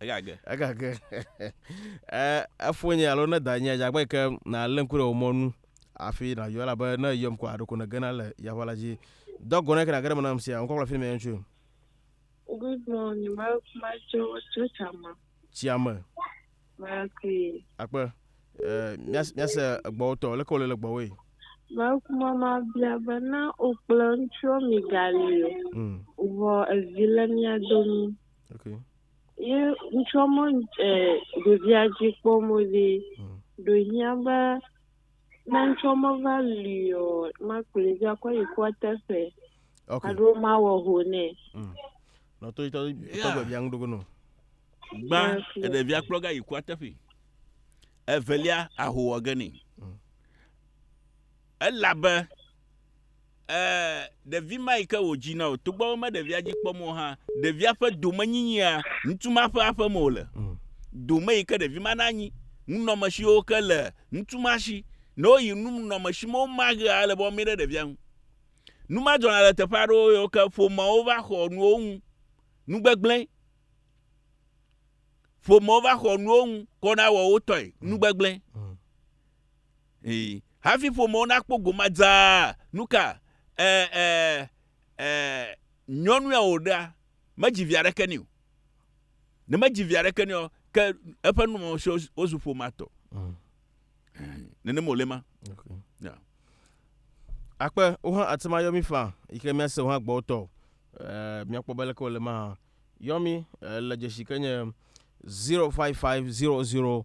Egage. Egage. Eh, efonye alo ne danye dze abe ke nalé ŋku ɖe wò mɔ nu hafi nàyɔ elabe ne èyɔm koa ɖeko nègena le yaʋa la dzi. Do agɔ ne ke nàge ɖe eme nam sia. Ŋkɔkplɔ fini me ŋutsu. Good morning, ma ma tso tso tsa ma. Tsia me. Mekui. Akpe. Eh, míase egbɔwo tɔ, leke wòle le gbɔwoe? Mekuma mabia be na wò kple ŋutsuɔ migali o, hmm. vɔ evi le mia domi. Okay. Ye ŋutsuɔ mɔ eh, ɖevia dzi kpɔm wòle, hmm. ɖo hiã be Ne ŋtsɔ meva li ɔ, makplɔe dzi akɔ yi kua teƒe. Ok. Alo mawɔ ho nɛ. Mm. Nɔ to itɔ itɔ gbe bia ŋɖogo nɔ. Gbã eɖevia kplɔ ga yi kua teƒe. Evelia ahowɔ ge nɛ. Elabe Ee, ɖevi ma yi ke wòdzi na o, togbɔ be meɖevia dzi kpɔm o hã, ɖevia ƒe domenyinyia, ŋutsu ma ƒe aƒe me wòle. Mm. Dome yi ke ɖevi ma nanyi, nunɔmesiwo ke le ŋutsu ma si, ne woyi nunɔmesi me woma ɣea, ele be woamɛ ɖe ɖevia ŋu. Nu ma dzɔna le teƒe aɖewo yiwo ke ƒomeawo va xɔ nuwo ŋu. Nu gbegblẽ. Ƒomewo va xɔ nuwo ŋu, kɔna wɔ wo tɔe. Nu gbegblẽ. Mm. Hafi ƒomewo nakpɔ goma dzaa, nuka eh, eh, eh, nyɔnua wòɖea, medzi vi aɖeke nɛ o. Ne medzi vi aɖeke nɛ o, ke eƒe numɔmɔsɔ wozu ƒomea tɔ. Mm. Nenem wòle ma. Okay. Yeah. Akpe wohã ate ŋu ayɔ mi faa yi ke míase wohã gbɔ wotɔ o. Eh, Míakpɔ be leke wòle ma hã. Yɔ mi eh, le dzesi ke nye 055 00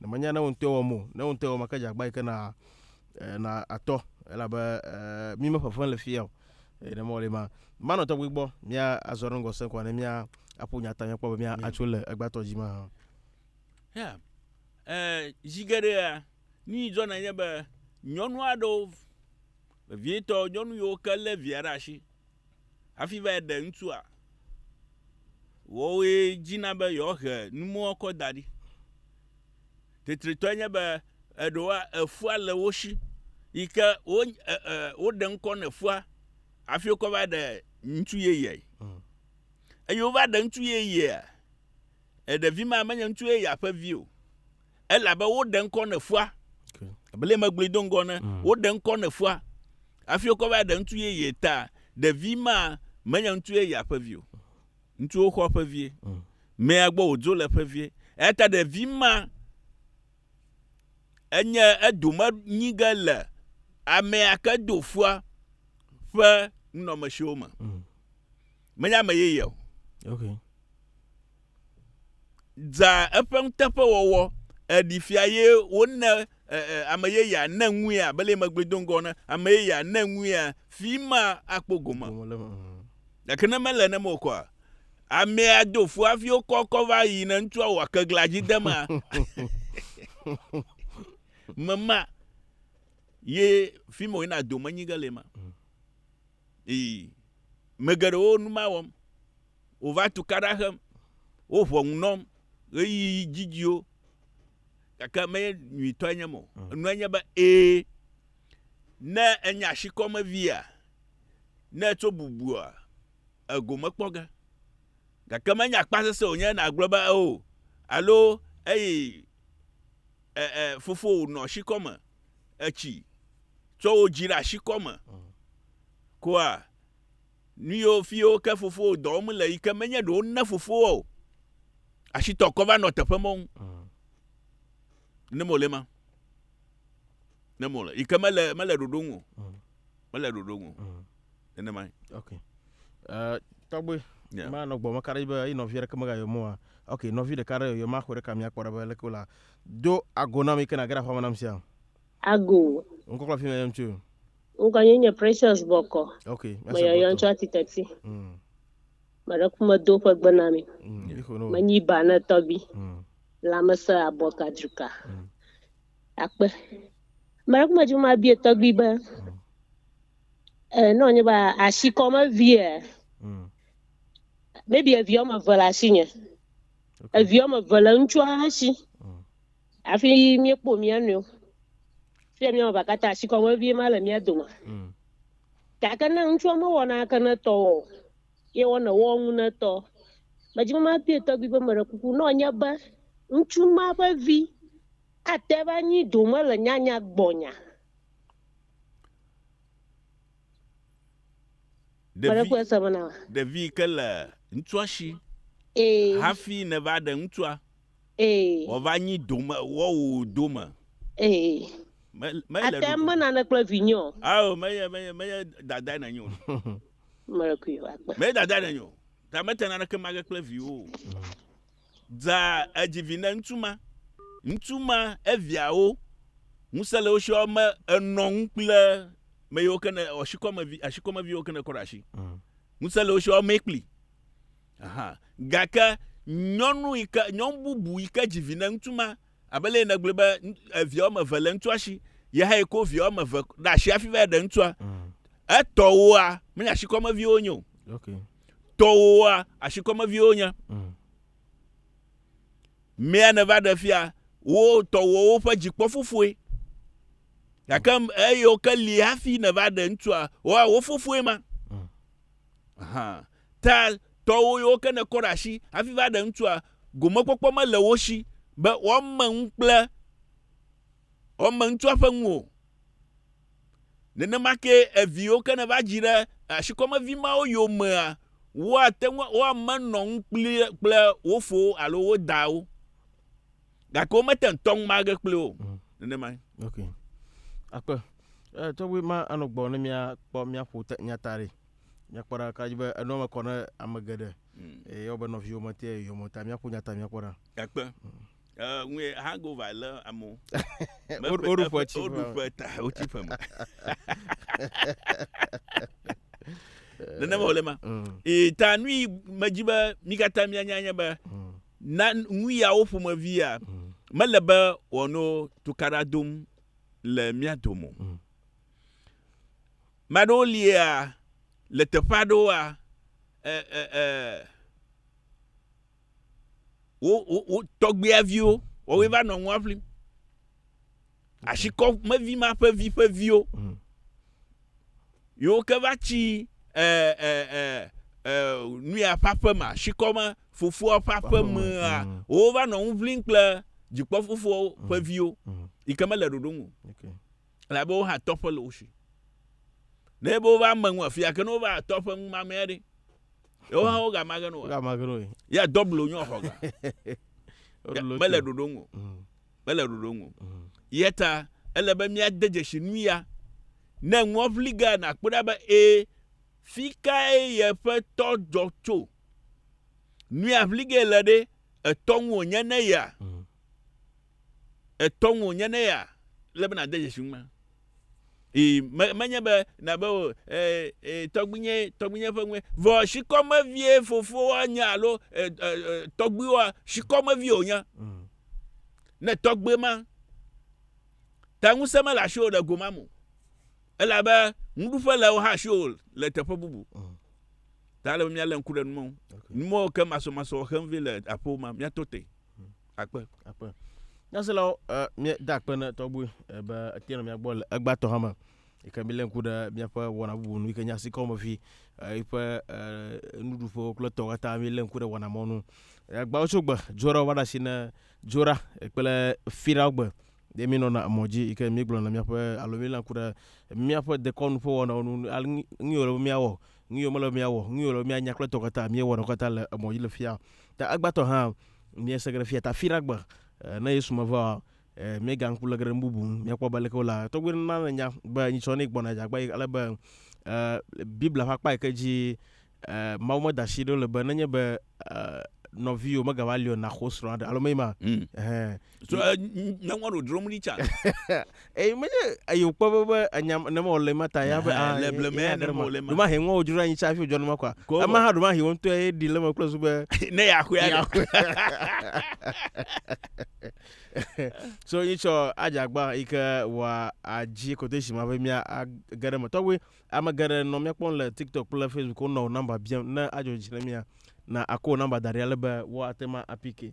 Ne menya ne wò ŋutɔe wɔm o, ne wò ŋutɔe wɔm ake dze agbagba yi ke na e, na atɔ elabe e, mi me ƒeƒem le fia o. E, ne mɔli ma, manɔ tɔgbi gbɔ, mia azɔ ɖe ŋgɔ se kɔ ne mia aƒo nyata mia kpɔ be mia atso le egbatɔ dzi ma. Yeah. Eh, zi geɖea, nu yi dzɔna nye be nyɔnu aɖewo vevietɔ nyɔnu yiwo ke lé via ɖe asi Hafi va ɖe ŋutsua, woawoe dzina be yewoahe numɔkɔ da ɖi. Tetretɔe nye be eɖewoa, efua le wo si yi ke wo e, e, woɖe ŋkɔ ne fua hafi wokɔ va ɖe ŋutsu yeyeae. Mm. Eye wova ɖe ŋutsu yeyea, eɖevi ma menye ŋutsu yeyea ƒe vi o. elabe woɖe ŋkɔ ne fua bele megblɔe do ŋgɔ ne mm. woɖe ŋkɔ ne fua hafi wokɔ va ɖe ŋutsu yeye ta ɖevi ma menye ŋutsu yeye ƒe vi o ŋutsuwo xɔ ƒe vie mm. mea gbɔ wòdzo le ƒe vie eya ta ɖevi ma enye edome nyi ge le amea ke do fua ƒe nunɔmesiwo me mm. menye ame yeye o okay. dza eƒe nuteƒewɔwɔ ɖi fia ye wone ame yeyea ne ŋuia abe le megbe do ŋgɔ ne ame yeyea ne ŋuia fi ma akpɔ gome gake ne mele ne mo kɔa amea do fu hafi wokɔ kɔ va yi ne ŋutsua wɔ kegla dzi de ma mema ye fi ma yina do menyi ge le ma Ii, Me geɖewo nu ma wɔm. Wova tukaɖa xem, woʋɔ ŋu nɔm ɣeyiɣi didiwo, gake menye nyuitɔe nye eme o. Mm. Enua nye be, ẽ, ne ènye ashikɔmevia, ne ètso bubua, ègome kpɔ ge. Gake menye akpasese wònye nàgblɔ be, eo, alo, eye, E, e, fofowò nɔ shikɔ me. Etsi tsɔ wò dzi ɖe ashikɔ me. Koa, nu yiwo fiwo ke fofowò dɔ wɔm le yi ke menye ɖe wona fofowò o. Ashitɔ kɔ va nɔ teƒe mɔŋ. Ne mole ma. ne mo le yi ke mele mele ɖoɖo ŋu o mm. mele ɖoɖo ŋu o mm. nenema yi. ok uh, tɔgbe yeah. ma nɔ gbɔme ka ɖe be eyi nɔvi ɖeke mega yɔmɔ wa ok nɔvi ɖeka ɖe yɔyɔ ma xɔ ɖeka mi akpɔ ɖe be leke wòla do ago nam yi ke nage ɖe xɔme nam sia. ago. ŋkɔkɔ fi mi yɔm tso. ŋkɔ nye nye precious bɔkɔ. ok me yɔyɔ tso ati teti. Mm. me ɖe kume do ƒe gbe na mi. Mm. menyi ba ne tɔbi. Mm. lamese abɔ kadruka. Mm. akpe mɛrɛku mɛ juma bie tɔgbi be nɔ nye ba asi kɔ me vie maybe evi wɔme eve le asi nye evi wɔme eve le ŋutsua ha si hafi míekpɔ mía nɔewo fia mía wɔme eve katã asi kɔ me vie ma le mía dome gake ne ŋutsua mewɔ nake ne tɔwɔ o ye wɔna wo ŋu netɔ. Medzi be mabia tɔgbui be, Meɖe kuku, ne wònye be ŋutsu ma ƒe vi ate ava anyi dome le nyanya gbɔnya? Meɖe kpɔe se bena. Ɖevi yi ke le ŋutsua si hafi nèva ɖe ŋutsua, wòava nyi dome, woawò dome. Ate ŋu mena naneke kple vinyewo. Ao, menye, menye, menye dadae nènye o. Mɛ dada ne nyo, ta me tena neke mage kple viwo. Dza edzi vi ne ŋutsu ma, ŋutsu ma eviawo, ŋusẽ le wo si wɔme enɔ ŋu kple me yiwo ke ne ɔsikɔmevi, asikɔmeviwo ke ne kɔ ɖe asi. Mm. Ŋusẽ le wo si wɔme kpli. Aha. Gake nyɔnu yi ke, nyɔnu bubu yi ke dzi vi ne ŋutsu ma, Abe leye nègblɔe be evi woame eve le ŋutsua si, ye hã ko vi woame eve ɖe asi hafi va ɖe ŋutsua. Mm. Etɔwoa, menye asikɔmeviwo nye o. Okay. Tɔwoa, asikɔmeviwo nye. Mm. Mea neva ɖe fia, wo tɔwowo ƒe dzikpɔ fofoe. Gake mm. eyewo ke li hafi neva ɖe ŋutsua, woa wo fofoe ma. Mm. Aha. Ta tɔwo yiwo ke nèkɔ ɖe asi hafi va ɖe ŋutsua, gomekpɔkpɔ mele wo si be woame ŋu kple woame ŋutsua ƒe ŋu o. Nenema kee evi yiwo ke nèva dzi ɖe asikɔmevi mawo yomea, woate ŋu, woamenɔ ŋu kpli kple wo fowo alo wo dawo, gake womete ŋu tɔ ŋume age kpli wo o. Mm. Nenemae. Ok. Akpe. Eh, tɔgbi ma anɔ gbɔ ne mia kpɔ mia ƒo te nyata ɖe. Míakpɔ ɖa ka dzi be enɔa me kɔ ne ame geɖe. Hmm. Eye wobe nɔviwo me te yɔmɔ ta míaƒo nya ta míakpɔ ɖa. Ekpe. Ŋue eh, hangover le amewo. Woɖu ƒe tsi. Woɖu ƒe ta wotsi ƒe me. Nenema wòle ma. Hmm. Ee ta nui medzi be mi katã mianya nye be hmm. na nuyawo ƒomevia mele be wòano tukaɖa dom le mía dome o. Ame aɖewo lia le teƒe aɖewoa, e, e, e, wo, wo, wo tɔgbuiaviwo, wɔwoe mm. va nɔ nua ʋlim. Asikɔ mevi ma ƒe vi ƒe viwo. Mm. Yewo ke va tsi e, e, e, e, nuya ƒe aƒema, asikɔ ma fofoa ƒe aƒemea, mm. wo va nɔ nu ʋlim kple dzikpɔfofoa ƒe viwo, yi ke mele ɖoɖo ŋu. Okay. Elabe wo hã tɔƒe le wo si. Ne ebe wova eme ŋu afia, ke ne wova tɔƒe ŋu mamea ɖe, yewo hã wo gama geno. Wo gama geno. Ya dɔblo nyɔ xɔ ga. Mele ɖoɖo ŋu. Mm. Mele ɖoɖo ŋu. Mm. Yeta ele be mia de dzesi nu ya. Ne ŋua ʋli ga na kpɔ ɖa be e fi kae ye ƒe tɔ dzɔ tso. Nu ya ʋli ge le ɖe etɔ ŋu wonye ne ya. Mm. etɔŋ wònye ne ya, ele be nàde dzesi ŋume. Ii, me, menye be nàbe o, e, e, tɔgbinye, tɔgbinye ƒe ŋue. Vɔ shikɔmevie fofoa nye alo e, e, e, tɔgbuiwoa, shikɔmevie wònye. Mm. Ne tɔgbui ma, ta ŋusẽ mele asi o le go ma me. Elabe ŋuɖuƒe le wo hã asi o le teƒe bubu. Mm. Ta ele be míalé ŋku ɖe numɔwo. Okay. Numɔwo ke masɔmasɔ xem vi le aƒewo ma, míato te. Akpe, akpe. Nyaselawo, ɛ, míeda akpe na tɔgbe ɛ, be ete nɔ mía gbɔ le egbãtɔ hame. Yi ke mílé ŋku ɖe míaƒe wɔna bubu nu yi ke nye asikɔmevi, ɛ, yiƒe, ɛ, nuɖuƒewo kple etɔwo katã mílé ŋku ɖe wɔna mɔnu. Egbãwo tso gbe Dzora va ɖe asi na Dzora kple Firawo gbe ye mínɔna emɔ dzi yi ke míegblɔna míaƒe alo mílé ŋku ɖe míaƒe dekɔnu ƒe wɔnawo nu ale nu yi wòle be míawɔ Nuyi wòmele be míawɔ, nuyi wòle be míanya kple tɔ katã, míewɔnɛ katã le emɔ dzi le fia. Ta egbãtɔ hã, míese geɖe fia ta fi ɖagbe. Ne Yesu mevaoa, míeganɔ ŋku le geɖe nu bubu ŋu. Míakpɔ be leke wolea tɔgbuiwo nana nènya be nyitsɔ ne gbɔna dze agbagba yi ale be Biblia ƒe akpa yi ke dzi Mawu meda asi ɖo le be nenye be nɔviwò megava li o, nàxo srɔ̃a ɖe alo menye ema? Ɛhɛɛ. So uh, me want to drum Richard. Eyi menye eyi wokpɔ be be enya ne mɔ le ma ta ya be Eh, ah, le ye- ble ye me ya ne ɖe mɔ ma. le ma. Ɖo ma he ŋɔ wodzro anyi tsa hafi wodzɔ ne ma kɔa. Ko- Ema hã ɖo ma he wo ŋutɔ ye ɖi le me kple zu be ne ya xɔe ya aɖe. so yi tsɔ adzagba yi ke wòa adzi quotation ma be mía age ɖe me tɔgbe ame geɖe nɔ mía kpɔm le tiktok kple facebook wonɔ wò nɔmba biam ne adzɔ dzi na mía na akɔ wò nɔmba da ɖi ale be woate ma apike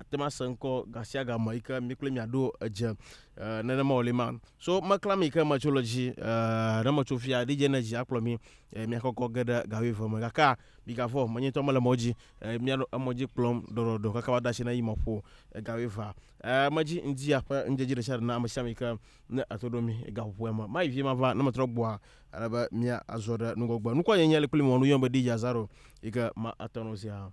Ate ŋu asẽ ŋkɔ gasiagame eyi ke mi kloe miaɖo edze nenema wòli ma. So meklã mi ke metso le dzi ne metso fia DJ Energy akplɔ mi miakɔkɔ ge ɖe ga wuieve me gakea migavɔ̃ o menye ŋutɔ mele mɔ dzi mianɔ emɔ dzi kplɔm ɖɔɖɔɖɔ kaka woada asi na yi mɔƒo ga wuievea medzi ŋdi aƒe ŋdze dzi ɖesiaɖe na amesiame yi ke ne eto ɖo mi gaƒoƒoea me mayi vie mava ne metrɔ gbɔa ele be mia azɔ ɖe nugɔgbe nukua nyenye li kpli mi wɔ nu yɔm be DJ Azaro yi ke ma atɔ no zia.